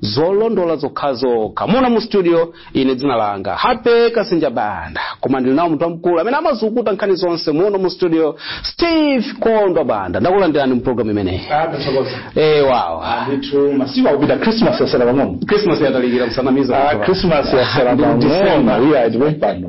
zolondola zokhazokha muno mu studio ine dzina langa happy kasinja banda koma ndili nawo munthu wamkulu amene amazukuta nkhani zonse muno mu studio steve kondwa banda ndakulandirani mu programu imeneyi eh wow ndithu masiku akupita christmas yasala pang'ono christmas yatalikira msanamiza Ah, christmas yasala Ndi mu December. pang'ono iya tikumpano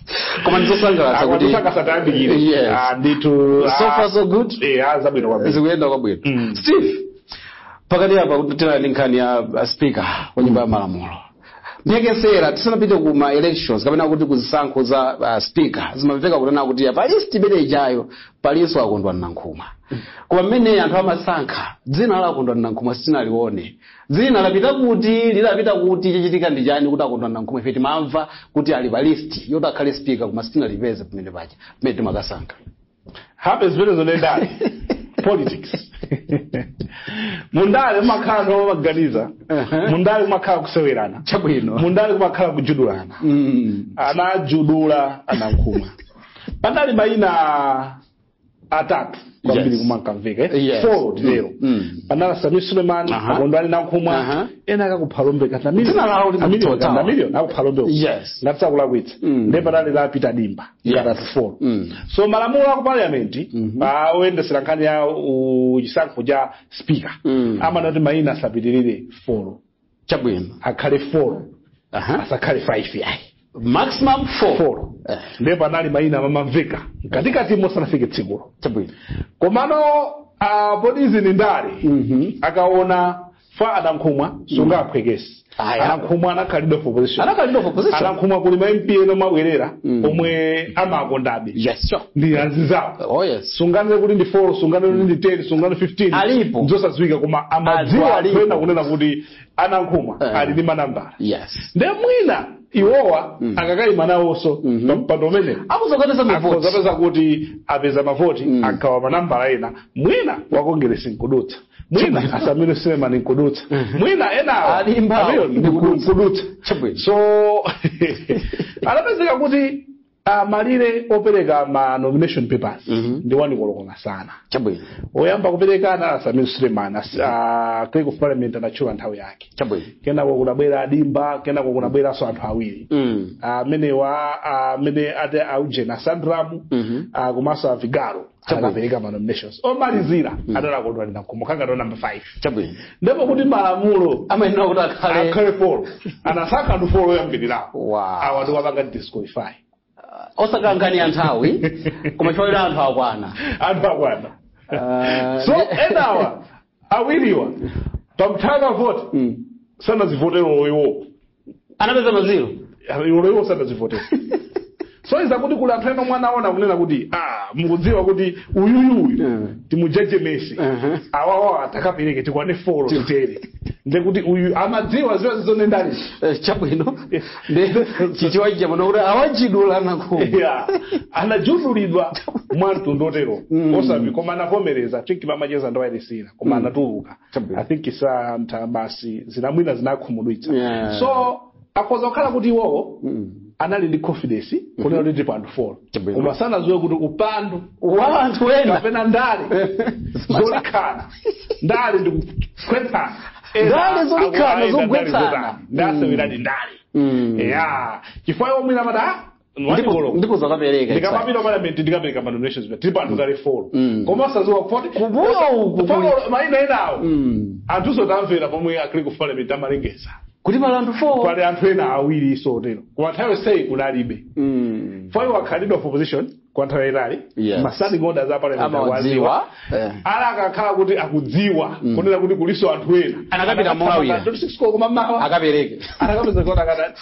koma ndizosangalatsa kuti akusakasatayambikire Yes. Ah, ndithu so far so good eya zabwino kwambiri zikuyenda kwabwino Mm. steve pakati apa tinali ndi nkhani ya ya speaker wa nyumba ya malamulo mphekesera tisanapite ku ma elections kapena kuti ku zisankho za uh, speaker zimamveka kunena kuti pa list imene ijayo palinso akondwani nankhumwa koma mmene anthu amasankha dzina la akondwani nankhumwa sitinalione dzina lapita kuti linapita kuti chachitika ndi chani kuti akondwani nankhumwa ife timamva kuti ali pa list yoti akhale speaker koma sitinalipeze pamene paja pamene timakasankha happy zimenezo ndi ndale politics mundale kumakhala anthu amaganiza Uh-huh. mundale kumakhala kusewerana chabwino mundale kumakhala kujudulana Mm. anajudula anankhumwa panali mayina atatu kwambiri Yes. kumankamveka eh? Yes. four tero Mm. panali a sameer suleman Aha. akondwani nankhumwa Aha. ena akakuphalombe Dzina lawo limatithawa. kapena a miliyoni akuphalombe Yes. ngati sindikulakwitsa Mm. nde panali la peter dimba Yes. atatu four Mm. so malamulo aku parliament oyendetsera nkhani ya u- chisankho cha speaker Mm. amanena kuti maina asapitirire four chabwino akhale 4 Aha. asakhale 5 yayi maximum four 4 Eh, ndiye panali mayina amamamveka mkatikati mosanafike tsikulo chabwino komano ah, poti izi ni ndale Mhm. akaona fa anankhumwa sungawaphweketse Aya. anankhumwa anakhala leader of opposition anakhala leader of opposition anankhumwa kuli ma mp ena abwerera omwe amawakondabe yes sure ndi azinzawo oh yes sunganene kuti ndi 4 sunganene kuti ndi 10 sunganene 15 Alipo. zosadziwika koma Alipo, amadziwa alipo. anthu ena kunena kuti anankhumwa Eh. ali ndi manambala yes nde mwina iwowa akakayima nawonso pa mpando umene akuzakatisa mavoti akuzapeza kuti apeza mavoti agawa manambala ena mwina wa kongeresi nkudutsa mwina asameer suleman nkudutsa mwina enawo A dimbawo, amene ndi nkudutsa. nkudutsa Chabwino. so anapezeka kuti Ah, malire opereka ma nomination papers Mhm. ndi wanikoloko masana chabwino oyamba kupereka anali a sameer suleman as- ah, clerk of parliament anatchula nthawi yake chabwino kenako kunabwera adimba kenako kunabweranso anthu awiri Mm. amenewa amene ati aujeni asandramu Mhm. ah, komanso avigalo Chabwino. anapereka manominations omalizira adali a Kondwani Nankhumwa kangati namba 5 chabwino ndipo kuti malamulo amayenera kuti akhale akhale folo anasankha anthu folo oyambirirapo Wow. awa ndi wapanga disqualify osakhala nkhani ya nthawi koma choyera anthu akwana anthu akwana Ah, so enawa awiriwa panthawi ya vote Mm. sanazivotero iwopo anapeza maziro olo iwo sadazivotera sonyeza kuti kuli anthu ena omwe anaona kunena kuti ah mukudziwa kuti uyuyuyu Eh. timujejemetse Ehe. awawa atakapereke tikwane folo titere ndekuti uyu amadziwadziwa zizonendali Eh, chabwino ndi chichiwa chabwino kuti awajudula a Nankhumwa Yeah. anajudulidwa mwa mtundu otero Mm. osabi koma anavomereza chifukwa pamacheza ndi wailesi ina koma anatuluka Chabwino. i think santha basi zina mwina zinakhumudwitsa Yeah. so akhoza kukhala kuti iwowo Mm. anali ndi confidence kunena kuti tilipo anthu folo Chabwino. koma sanadziwe kuti upandu wa anthu ena kapena ndale zolikhana ndale ndi kugwetsana Ena Ndale zolikhana, akuyenda ndale zogwetsana. zotani. anaseweradi ndale Mm. ya chifukwa iwo mwina amati "Ah, Ndipo- ndipo zakapereka ndikamapita parliament ndikapereka ma nominations tilipo anthu kale folo Mm. koma osadziwa kuti Kumbuyo uku kuli- Folo, maina enawo Mm. anthuso tamvera pomwe akili ku parliament amalengeza kuti pali anthu 4 pali anthu ena awiri iso otero kwa nthawi yonseyi kunalibe Mm. chifukwa iwo akhala leader of opposition kwa nthawi yayitali Yes. ma standing order za parliament amawadziwa Eh. ala akakhala kuti akudziwa kunena kuti kuliso anthu ena Anakapita molawira. kummawa akapereke anakapeza kuti akadati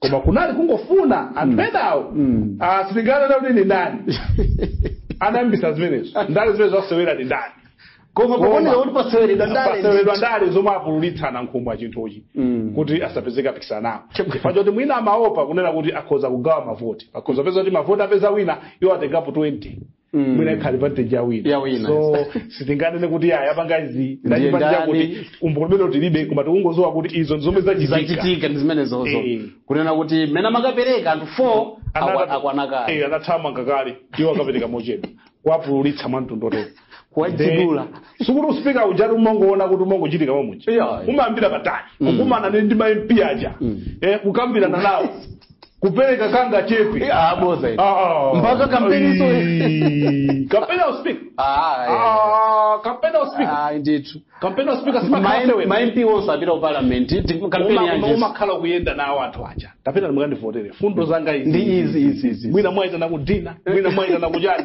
koma kunali kungofuna anthu enawo Mm. ah, sitinganena kuti ndi ndani anayambisa zimenezo ndale zimenezo asewera ndi ndani koma Koma. pakuoneka kuti paseweredwa ndale paseweredwa ndale zomwe apululitsa a Nankhumwa chinthuchi Mm. kuti asapezeke apikisana nawo chifukwa choti mwina amaopa kunena kuti akhoza kugawa mavoti akhoza peza kuti mavoti apeza wina iwo atengapo 20 Mm. mwina ikhale advantage yawina Ya wina, so sitinganene kuti awa apanga izi Ndiye ndi achipani ndani? chakuti umboni umenewo tilibe koma tikungodziwa kuti izo ndi zomwe zachitika zachitika ndi zimenezozo Eh. kunena kuti mmene amakapereka anthu four akwa- akwanakale Eh, anathamanga kale iwo akapereka mochedwa kuwapululitsa mwa mtundu otero kuwajudula sikuti usipika ujati umangoona kuti umangochitika mamuchi Yeah. umayambira patali kukumana ndi ndi ma MP aja eh, kukambirana nawo kupereka kangachepe Ah, bodza ine. Ah, ah. Mpaka kampeni izo. Ai, kampeni ya uspika Ah, eh. Ah, kampeni ya uspika Ah, ndithu kampeni ya uspika simakhala sewera ma MP onse apita ku parliament ti- kampeni Uma- yanji umakhala kuyenda nawo anthu aja tapitani mukandivotere mfundo zanga izi ndi izi izi izi mwina mwaitana ku dinner mwina mwaitana ku chani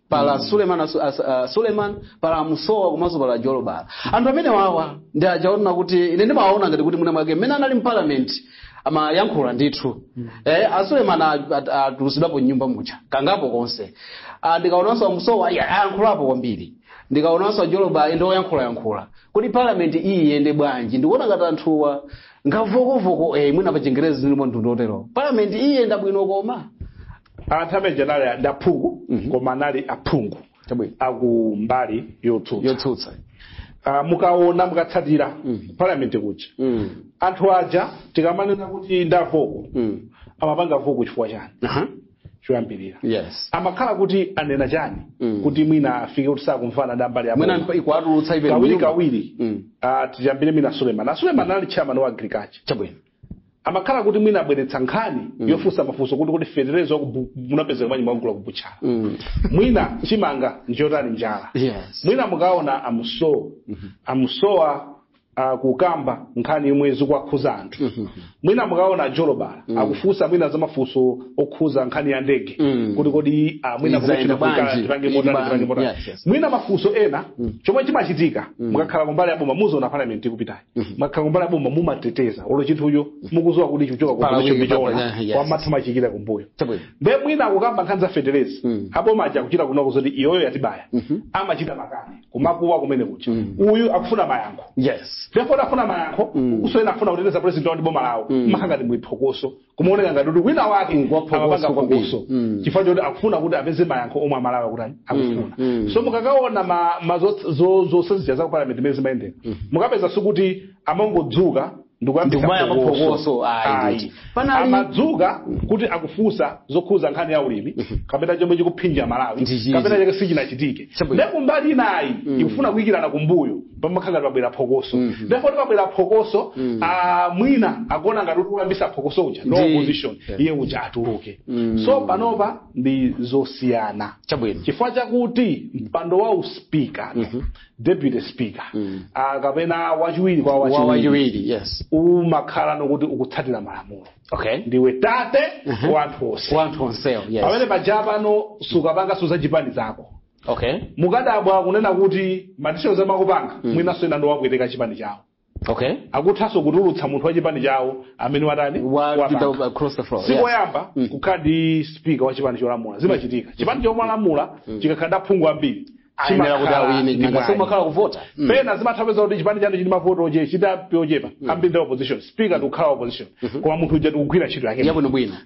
pala suleman asu- as- ah, suleman pala musowa komanso pala jolobala anthu amene wawa ndi ajaona kuti ine ndimawaona ngati kuti mwina mwake mmene anali mparliament amayankhula ndithu eh, asuleman atulusidwapo mnyumba muja kangapo konse Ah, ndikaonanso amusowa ayi, ayankhulapo kwambiri ndikaonanso ajolobala ndi oyankhulayankhula kuti parliament iyi iyende bwanji ndikuona ngati anthuwa ngavokovoko eh, mwina pa chingerezi ndimomo mtundu otero parliament iyi iyenda bwino koma anthu amene aja anali ndi aphungu Mhm. koma anali aphungu Chabwino. aku mbali yotsutsa yotsutsa Ah, mukaona mukatsatira Mhm. parliament kuja Mm. anthu aja tikamanena kuti ndavoko Mm. amapanga voko chifukwa chani Aha. choyambirira yes amakhala kuti anena chani Mm. kuti mwina afike kuti sakumvana ndi ambali mwina aboma mpa- ikuwatulutsa ine kawiri mnyumba. kawiri Mm. ah, tiyambire mwina suleman asuleman anali chairman wa agriculture chabwino amakhala kuti mwina abweretsa nkhani yofunsa mafunso kuti kuti fetereza munapezeka manyi mwagula kubutchala Mm. mwina chimanga njotani njala Yes. mwina mukaona amusowa amusowa uh, kukamba nkhani yomwe zikuwakhuza anthu mwina mukaona ajolobala akufunsa mwina za mafunso okhuza nkhani ya ndege Mm. kuti kodi ah, mwina Inayenda kumachita kukhala bwanji? tipange Ili motani, bwanji? tipange motani. Yes, yes. mwina mafunso ena chomwe chimachitika mukakhala kumbali ya boma muziona parliament ikupitayo mukakhala mbali ya boma mumateteza olo chinthucho mukuziwa kuti chikuchoka ku Pala position weak, pali ichona nya- yes. mumatha kumachikira kumbuyo Chabwino. nde mwina akukamba nkhani za fetereza Mm. aboma aja akuchita kunong'a zoti iyoyo yatibaya amachita makani kumakuwa kumene kuja uyu akufuna mayankho yes therefore afuna mayankho uku ena afuna kuteteza president wawo ndi boma lawo makhala ngati muli phokoso kumaoneka ngati kuti wina wake Mm, ngwaphokoso amapanga kwambiri. phokoso Mm. chifukwa choti akufuna kuti apeze mayankho omwe amalawi akuti akufuna mm. so mukakaona ma- ma zo- zo- zosanzija za parliament mmene zimayendera mukapeza sikuti amangodzuka ndikuyambisa Ndikumayamba phokoso. phokoso, ayi, Ayi. ndithu. Panali- amadzuka kuti akufunsa zokhuza nkhani ya ulimi kapena chomwe chikuphinja malawi Ndi chiti. kapena chinachake sichinachitike Chabwino. ndekumbali inayi ikufuna kuyikirana kumbuyo pamakhala pabwera phokoso Mhm. therefore pabwera phokoso Mhm. ah, mwina akuona ngati kuti akuyambisa phokoso uja no Ndi- opposition Yeah. iye uja atuluke Mhm. so panopa ndi zosiyana chabwino chifukwa chakuti mpando wa uspika Mhm. deputy speaker Mhm. ah, kapena wachiwiri kwa wachiwiri wawachiwiri yes umakhala ndi okuti ukutsatira malamulo okay ndiwe tate Mhm. wa anthu onse wanthu onsewo yes pamene paja pano sukapanga so zachipani zako okay mukadabwa kunena kuti madecisions amakapanga Mm. mwinanso ena ndi opweteka chipani chawo okay akuthanso kutulutsa munthu wa chipani chawo amene watani wapita wapanga. across the floor si yes. koyamba Mm. kukhala ndi spika wa chipani cholamula zimachitika chipani cholamula chikakhala ndi aphungu ambiri ayenera kuti chimakhala awine ndi nanga mwayi. so amakhala kuvota Mm. pena zimatha upeza kuti chipani chanu chili ndi mavoti oche chili aphungu ochepa ambiri ndi opposition speaker ndikukhala opposition koma munthu uja ndikugwira ntchito yake yabwinobwino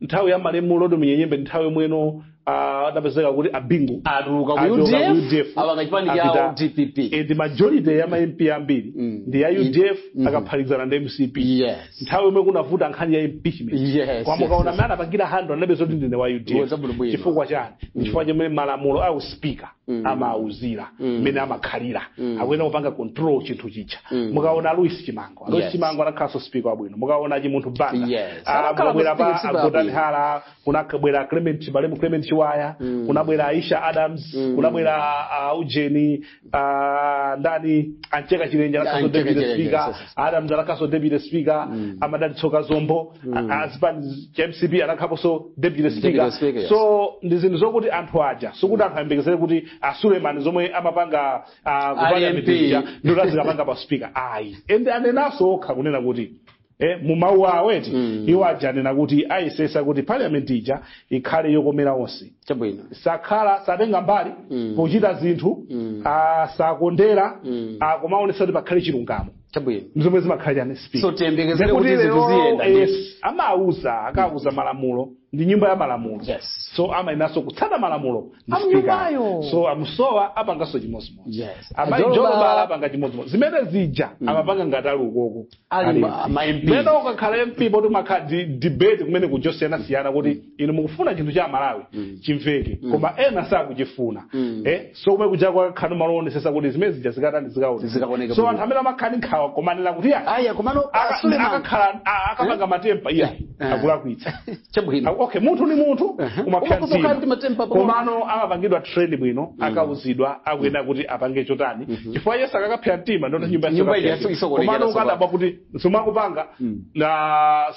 nthawi ya malemu rodwell munyenyembe ndi nthawi yomweno ah, adapezeka kuti a bingu atuluka ku Atuluka ku udf UDF. apanga chipani Apita- chawo dpp Eh, ndi majority ya ma mp ambiri Mm. ndi ya udf Mhm. akaphatikizana ndi mcp yes nthawi yomwe kunavuta nkhani ya impeachment Yes, koma mukaona yes, mmene anapangira handle anapeza kuti ndine wa Ngoza bwinobwino. udf chifukwa chani chifukwa chomwe malamulo a uspika Mm. amauzira Mm. mmene amakhalira Mm. akuyenera kupanga control chinthu chija Mm. mukaona louis chimango louis Yes. chimango anakhalanso speaker wabwino mukaona chimunthu banda Yes. Ah, Anakhala mukabwera speaker, pa speaker a gotani wabwino. hara kunabwera clement chibalemu clement chiwaya Mm. kunabwera aisha adams Mm. kunabwera ah, ujeni ah, ndani a mcheka chilenje anakhalanso A Mcheka deputy Chilenje, speaker yes, yes. adams anakhalanso deputy speaker a madalitso kazombo Mm. A- as pa mcp anakhaponso deputy Deputy speaker, speaker yes. so ndi zinthu zokuti anthu aja sikuti anthu ayembekezere kuti a suleman zomwe amapanga ah, ku parliament ija ndikuti azikapanga pa speaker ayi ende anenanso okha kunena kuti Eh, mu mawu awo eti Mm. iwo aja anena kuti ayesesa kuti parliament ija ikhale yokomera onse chabwino sakhala satenga mbali Mm. pochita zinthu Mm. ah, sakondera Mm. ah, komaonesa kuti pakhale chilungamo chabwino zomwe zimakhala chani speaker So, tiyembekezere Ndekuti kuti zinthu lero, ziyenda, eh, yes. amauza akauza malamulo ndi nyumba ya malamulo Yes. so amayeneranso kutsata malamulo a m'nyumbayo. speaker. so a musowa apanganso chimodzimodzi Yes. amayi Ajoloba- jolobala apanga chimodzimodzi zimene zija amapanga ngati ali ukoko Ali ma- ma MP. mene ukakhala mp poti umakhala di- debate kumene kuja osiyanasiyana kuti inu mukufuna chinthu cha amalawi Mm. chimveke Mm. koma ena sakuchifuna Mm. eh, so kumene kuja kumakhala kuonesesa kuti zimene zija zikatani Zikaoneka zikaoneka so bwino. anthu amene amakhala ndi nkhawa komanena kuti ya aya komano aka- Suleman akakhala a- akapanga matempa iya Eh. akulakwitsa chabwino Aku- okay munthu ni munthu Ehe. koma Umapsa kukhala ndi matempa mtima pang'ono. komano amapangidwa train bwino akauzidwa akuyenera kuti apange chotani chifukwa yes ukakapsa mtima ndekuti nyumba Nyumba yasokonekera komano tsopano. ukadabwa kuti zomwe akupanga Mm. na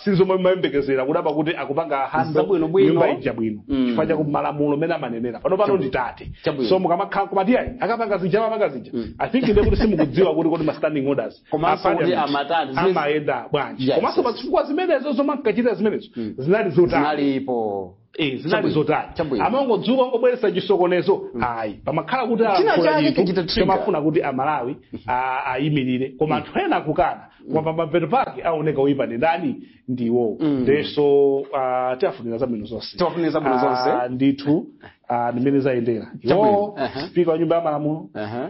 si zomwe mumayembekezera kudabwa kuti akupanga handle Zabwinobwino. nyumba ija bwino Mm. chifukwa chakuti malamulo mmene amanenera pano pano ndi tate Chabwino. so mukamakhala kumati ayi akapanga zija amapanga zija Mm. i think nde kuti simukudziwa kuti kodi ma standing orders Komanso a kuti parliament amatani, zimene- amayenda bwanji Yes, komanso yes. pa zifukwa zimenezo zomwe ankachitira zimenezo Mm. zinali zotani zinalipo Eh, zinali Chabwino. zotani Chabwino. amangodzuka kungobweretsa chisokonezo ayi pamakhala kuti China alankhula chake chinthu chichita trigger. chomwe amafuna kuti amalawi a- ayimirire koma anthu ena akukana koma pamapeto pake aoneka oyipa ndi ndani ndi iwowo nde so ah, tiwafunira zabwino zonse Tiwafunira zabwino zonse. Ah, ndithu ah, ndimene zayendera Chabwino. iwowo Aha. spika wa nyumba ya malamulo Aha.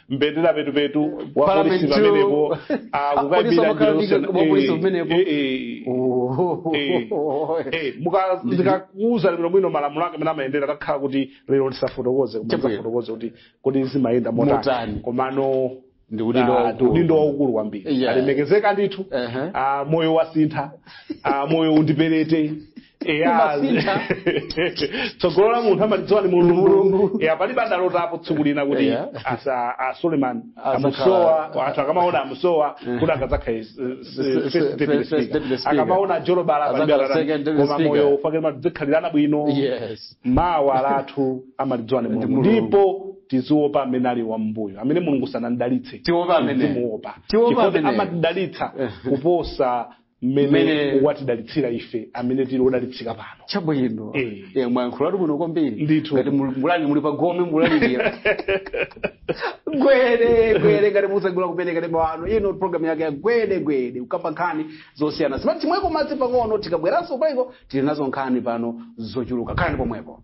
mbendera petupetu wa Pala polisi petu. pamenepo Apolisi akukabira amakhala ndi njira wa polisi zosiyana- pamenepo. Eh, eh, Oh. eh, eh, muka- ndikakuuza lero bwino malamulo ake mmene amayendera takhala kuti lero ndisafotokoze koma Chabwino. ndisafotokoze kuti kuti zimayenda Motani. motani komano Ndi udindo ah, waukulu. ndi udindo waukulu kwambiri Yeah. alemekezeka ndithu Ehe. ah, moyo wasintha ah, moyo undiperete Eya, Imasintha. tsogolo la munthu amalidziwa ni mulungu Mulungu. ya palibe adalotapo tsiku lina kuti Eya. asa a suleiman Azakhala- amusowa anthu akamaona amusowa kuti akadzakha is- is- se- first se- deputy first speaker. deputy speaker. akamaona Jolobala kuti Azakhala banda second deputy koma speaker. moyo ufake muzikhalirana bwino yes mawa lathu amalidziwa ni mulungu Mulungu. ndipo tiziwopa amene ali pambuyo amene mulungu sanamdalitse Tiwopa amene. timuwopa Tiwopa Chifukwa amene. amadalitsa kuposa mmene Mmene- watidalitsira ife amene tili odalitsika pano chabwino Eh. Eh, mwayankhulatu bwino kwambiri Ndithu. ngati mul- mulaliki muli pa gome mulalikira gwede gwede ngati mwatsegula kumene wa kanema wanu ino programu yake ya gwede gwede kukamba nkhani zosiyana siyana timweko madzi pang'ono tikabweranso paliko tili nazo nkhani pano zochuluka khalani pomwepo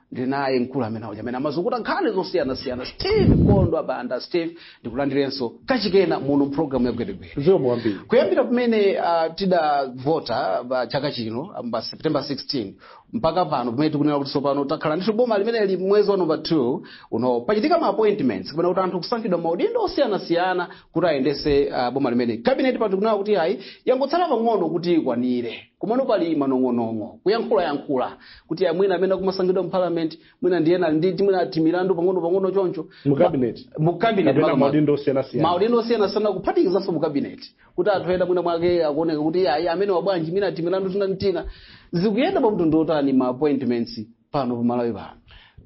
ndinaye mkulu amene uja amene amazukuta nkhani zosiyanasiyana steve kondwa banda steve ndikulandirenso kachikena muno mpulogalamu ya gwedegwede zikomo kwambiri kuyambira pamene uh, tidavota pa chaka chino um, pa september 16 mpaka pano pamene tikunena kuti tsopano takhala ndithu boma limene lili mwezi wa number 2 uno pachitika ma appointments kapena kuti anthu kusankhidwa maudindo osiyanasiyana kuti ayendese uh, boma limeneli kabineti pano tikunena kuti ayi yangotsala pang'ono kuti ikwanire komano pali manong'onong'o kuyankhula yankhula kuti mwina amene akumasankhidwa mu parliament mwina ndi ena ali ndi mwina timilandu pang'ono pang'ono choncho Mu cabinet? mu cabinet Kapena makamaka. maudindo osiyanasiyana. maudindo osiyanasiyana kuphatikizanso mu cabinet kuti anthu ena mwina mwake akuoneka kuti ayi ameneyu wabwera bwanji mwina timilandu tina ndi tina zikuyenda pa mtundu otani ma appointments pano pa malawi pano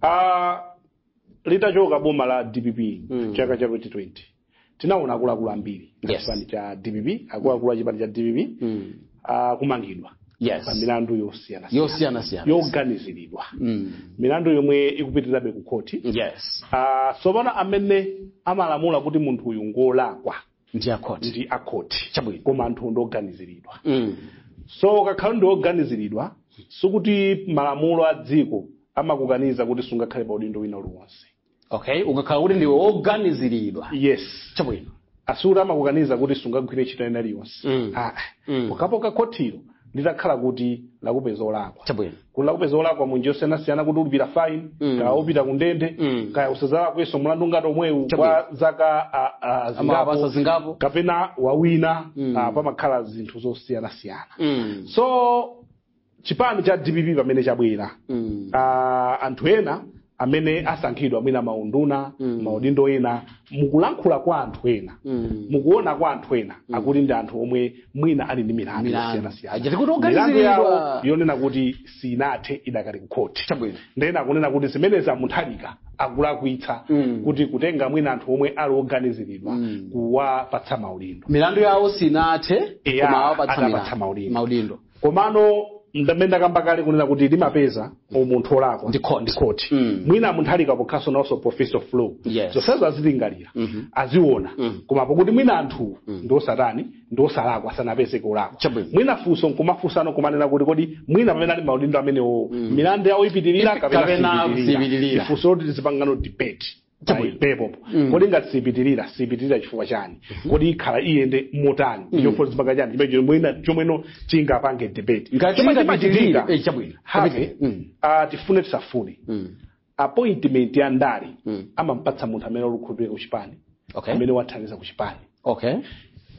Ah, litachoka boma la dpp Mm. chaka cha 2020 tinaona akuluakulu ambiri Yes. chipani cha dpp akuluakulu a chipani cha dpp Mm. akumangidwa Yes. pa milandu yosiyana yosiyanasiyana yoganiziridwa Mm. milandu yomwe ikupitirabe ku khoti yes Ah, tsopano amene amalamula kuti munthu uyu ngolakwa ndi akhoti ndi akhoti Chabwino. koma anthu ndioganiziridwa Mm. so ukakhala ndioganiziridwa sikuti malamulo a dziko amakukaniza kuti sungakhale pa udindo wina uliwonse okay ukakhala kuti ndiwe woganiziridwa yes chabwino sikuti amakukaniza kuti sungagwire ntchito ina iliyonse Mm. Ah, Mm. pokhapokha khotilo litakhala kuti lakupeza olakwa chabwino kuti lakupeza olakwa munjira yosiyanasiyana kuti ulipira fine Mm. kaya upita ku ndende Mm. kaya usadzalakwenso mlandu ngati omwewu Chabwino. kwa zaka ah, ah, amapasa zingapo zingapo kapena mwina Mm. ah, pamakhala zinthu zosiyanasiyana Mm. so chipani cha dpp pamene chabwera Mm. ah, anthu ena amene asankhidwa mwina maunduna Mm. maudindo ena mukulankhula kwa anthu ena Mm. mukuona kwa anthu ena akuti ndi anthu omwe mwina ali ndi milandu Milandu. yosiyanasiyana Ajati kuti milandu oganiziridwa. yawo yonena kuti sinathe idakali kukhoti Chabwino. ndiye ena akunena kuti zimenezi a Mutharika akulakwitsa Mm. kuti kutenga mwina anthu omwe ali oganiziridwa Mm. kuwapatsa maudindo milandu yawo sinathe Eya, koma awapatsa atapatsa milandu. maudindo. maudindo komano ndimmene ndakamba kale kunena kuti limapeza munthu olakwa Ndi court. court Mm. mwina munthu asanakapange naonso professor of law Yes. zonsezo azilingalira Mhm. aziona Mm. koma pakuti mwina anthu ndi osatani ndi osalakwa sanapezeke olakwa Chabwino. mwina funso nkumafunsano kumanena kuti kodi mwina pamene ali maudindo amenewo milandu yawo ipitirira Ipi- kapena kapena sipitirira. sipitirira. Ndi funso loti tizipangano debate Chabwino. apapo Mm. kodi ngati sipitirira sipitirira chifukwa chani kodi ikhala iyende motani Mm. chofuna chipanga chani chimene chomwe- chomweno tingapange debate Ngati Chomwe ikapitirira, chimachitika, eh, chabwino. have, Kapite. Mm. ah, tifune tisafune Mm. appointment ya ndale Mm. amampatsa munthu amene ali okhulupirika kuchipani Okay. amene wathandiza kuchipani okay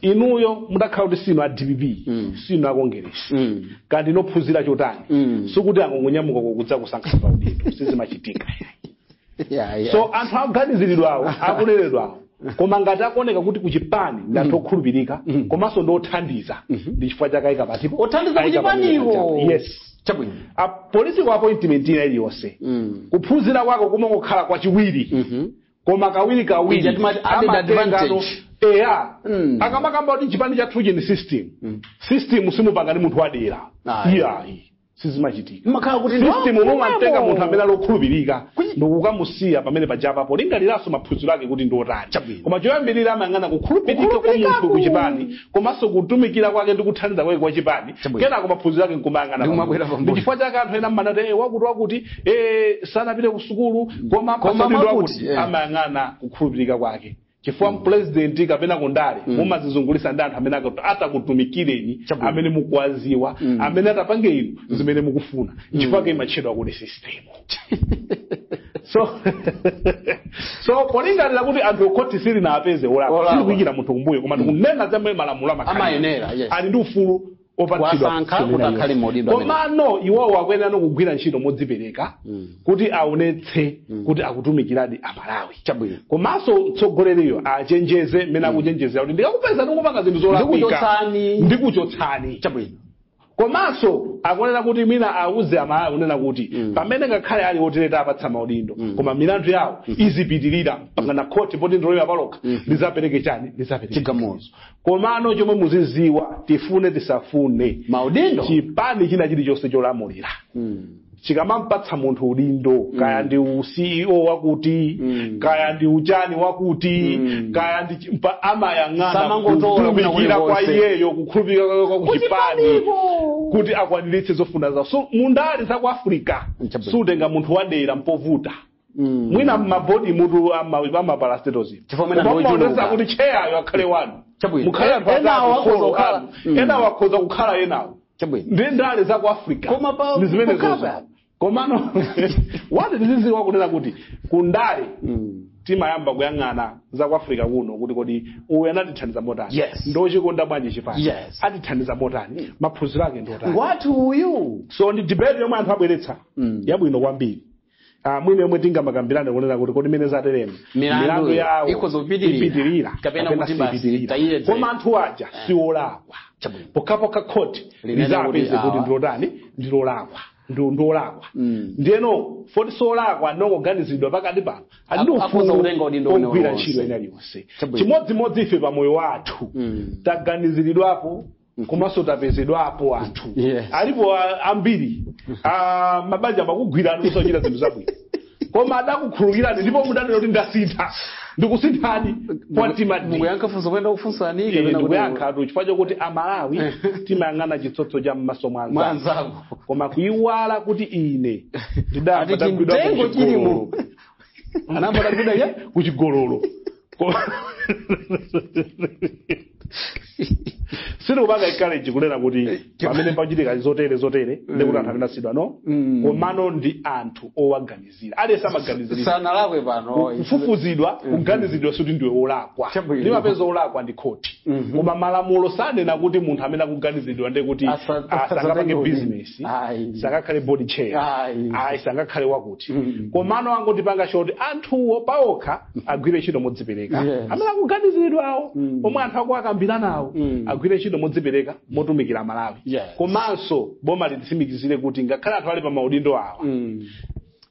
inuyo mudakhala kuti sinu a dpp Mm. sinu a kongeresi Mm. kaya ndinu ophunzira chotani Mm. sikuti angongonyamuka kudzakusankhani pa udindo sizimachitika yeah, yeah. so anthu aganiziridwawo akunenedwawo koma ngati akuoneka kuti kuchipani ndi anthu okhulupirika komanso ndi othandiza ndi chifukwa chake aika patipo othandiza Ayika pa meza kuchipaniwo chawo. yes chabwino a political appointment ina iliyonse Mm. kuphunzira kwako kumangokhala kwachiwiri Mhm. koma kawirikawiri Ija timati added amatengano advantage. eya Mm. akamakamba kuti chipani chathuchi ndi system system simupanga ndi munthu wadera Ayi. iyayi sizimachitika imakhala kuti ndi- system mumatenga munthu amene ali okhulupirika Kuyi- ndikukamusiya pamene pajapa polingaliranso maphunziro ake kuti ndi otani Chabwino. koma choyambirira amayang'ana kukhulupirika kwa Kukhulupirika munthu ku- kuchipani komanso kutumikira kwake ndi kuthandiza kwake kwa chipani Chabwino. kenako maphunziro ake nkumayang'ana Ndi kumabwera pambuyo. pambuyo. ndi chifukwa chake anthu ena amanati "Eh, wakuti wakuti eh, sanapite ku sukulu koma Koma apatsa udindo wakuti, wakuti eh. amayang'ana kukhulupirika kwake chifukwa mpulezidenti kapena kundale mumazizungulisa ndi anthu amene akut- atakutumikireni Chabwino. amene mukuwaziwa amene atapange inu zimene mukufuna chifukwa ke imatchedwa kuti sistemu so so polingalira kuti anthu khoti silinawapeze olakwa Olakwa. sitikuyikira munthu kumbuyo koma tikunena za mmene malamulo amakhala. amayenera yes ali ndi ufulu opatsidwa Wasankha kusonera kuti akhale iwo. maudindo amene. komano iwowo akuyenera kugwira ntchito modzipereka kuti aonetse kuti akutumikiradi amalawi chabwino komanso mtsogoleriyo achenjeze mmene akuchenjezera kuti ndikakupezani mukupanga zinthu zolakwika Ndikuchotsani. ndikuchotsani chabwino komanso akunena kuti mwina auze amalawi kunena kuti pamene ngakhale ali otere tawapatsa maudindo koma milandu yawo izipitirira mpakana khoti poti ndi loyima palokha lizapereke chani lizapereke Chigamulo. komano chomwe muziziwa tifune tisafune maudindo chipani china chilichonse cholamulira chikamampatsa munthu udindo kaya ndi u ceo wakuti Mm. kaya ndi uchani wakuti Mm. kaya ndi chi- mpa- amayang'ana Samangotola kwina kutumikira kwa kulikonse. iyeyo kukhulupirika kwake kwa kuchipani Kuchipaniku. kuti akwaniritse zofuna zawo so mundale za ku africa Chabwino. sutenga munthu wadera mpovuta Mm. mwina m'mabodi mutu a ma parastatals Chifukwa mwina ndi ochuluka. maonesa kuti cheyayo akhale wanu Chabwino. mukhale anthu Enawo atatu akhoza folo kukhala- anu Mm. enawo akhoza kukhala enawo Chabwino. ndi ndale za ku africa Koma pa- ndi zimene kukhala zozo pa- komano wati tiziziwa kunena kuti ku ndale Mm. timayamba kuyang'ana za ku africa kuno kuti kodi uyu anatithandiza motani Yes. ndochikonda bwanji chipani Yes. atithandiza motani maphunziro ake ndotani Ngwathu uyu. so ndi debate yomwe anthu abweretsa Mm. yabwino kwambiri Ah, mwina yomwe tingamakambirane kunena kuti kodi mmene zateremu Milandu milandu yawo ikhoza kupitirira. ipitirira Kapena kuti basi siipitirira. tayire tayire. koma anthu aja siolakwa Chabwino. pokhapokha khoti Linene lizapeze kuti kuti awa. ndi otani ndiolakwa Ndi- ndiolakwa Mm. ndiyeno poti siolakwa ndongoganizidwa pakati pano ali ndi Ak- akhoza ufulu kutenga udindo wina ogwira uliwonse. ntchito ina iliyonse Chabwino. chimodzimodzi ife pa moyo wathu Mm. taganiziridwapo komanso tapezedwapo anthu Yes. alipo a- ambiri a mabanja amakugwirani kusachita zinthu zabwino koma adakukhulukirani ndipo mudanena kuti ndasintha ndikusinthani kwa mtima ndi mukuyankha funso lomwe ndakufunsani kapena kuti- ndikuyankhatu chifukwa chokuti amalawi timayang'ana chitsotso cha mmaso mwa mwa anzanu anzako koma kuyiwala kuti ine Ati chimtengo chilimo. anayamba atagwidwa ya kuchigololo Ko- sindikupanga encourage kunena kuti pamene pachitika zotere zotere ndikuti anthu amene asiyidwa no Mm. komano ndi anthu owaganizira aliyense amaganizira sanalakwe pano akufufuzidwa kuganizidwa sikuti ndiwe wolakwa Chabwino. limapeza wolakwa ndi khoti koma malamulo sanena kuti munthu amene akuganizidwa ndekuti Asa- sangapange asatenge business mphunzitsi Ayi. sangakhale board chair Ayi. ayi sangakhale wakuti Mm. komano angotipanga choti anthuwo paokha agwire ntchito modzipereka Yes. amene akuganiziridwawo Mm. omwe anthu akuwakambiranawo Mm. agwire ntchito modzipereka motumikira malawi Yes. komanso boma lititsimikizire kuti ngakhale anthu ali pa maudindo awa Mm.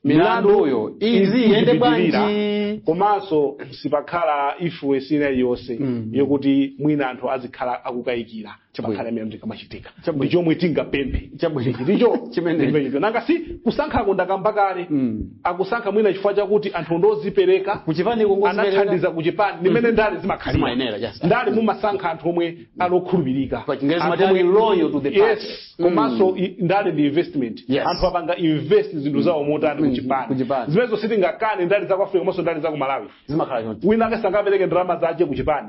milanduyo iziyenda bwanji izipitirira, komanso sipakhala influence ina iliyonse Mm. yokuti mwina anthu azikhala akukayikira Chabwino. pakhale amene ndikamachitika Chabwino. ndi chomwe tingapemphe Chabwino. Ichi ndicho Chimenecho. ndimenecho nanga si kusankhako ndakamba kale Mm. akusankha mwina chifukwa chakuti anthu ndozipereka kuchipani kungozipereka. anathandiza kuchipani ndimene ndale zimakhalira Zimayenera, yes. ndale mumasankha anthu omwe ali okhulupirika Pa Chingerezi Anthu amati omwe- loyal to the party. yes Mm. komanso i- ndale ndi investment Yes. anthu apanga invest zinthu zawo motani Mm, kuchipani kuchipani. zimenezo sitingakane ndale za ku africa komanso ndale za ku malawi zimakhala choncho wina wake sangapereke ndalama zake kuchipani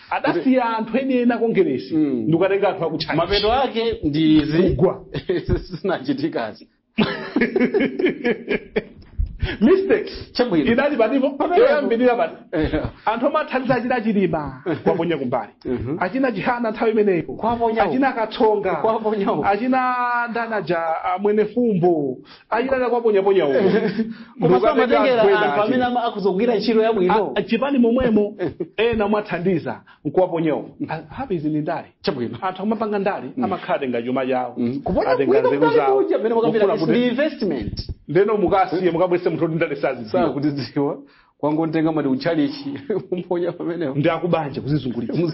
adasiya anthu eni eni a kongeresi Mm. ndikukatenga anthu akutchani mapeto ake ndi izi Kugwa. zinachitikazi mistake Chabwino. idali patipo Pamenepo. yoyambirira pati anthu omwe athandiza achina chilima kuwaponya kumbali Mhm. achina chihana nthawi imeneyo Kuwaponya uko. achina katsonga Kuwaponya uko. achina ndani aja a mwenifumbo ayilala kwaponyaponya uko koma samatengera anthu amene ama- akuzogwira ntchito yabwino chipani momwemo ena mwathandiza nkuwaponyawo apa izi ndi ndale chabwino anthu amapanga ndale amakhala atenga chuma chawo kupona atenga kuika nzeru mdali zawo uja amene wakambira Kufuna kuti ndi kuti investment ndeno mukasiye mukabwerese munthu oti ndale sazidziwa sakutidziwa kungontenga mati utchalichi umponya pamenepo ndi a kubanja kuzizungulitsa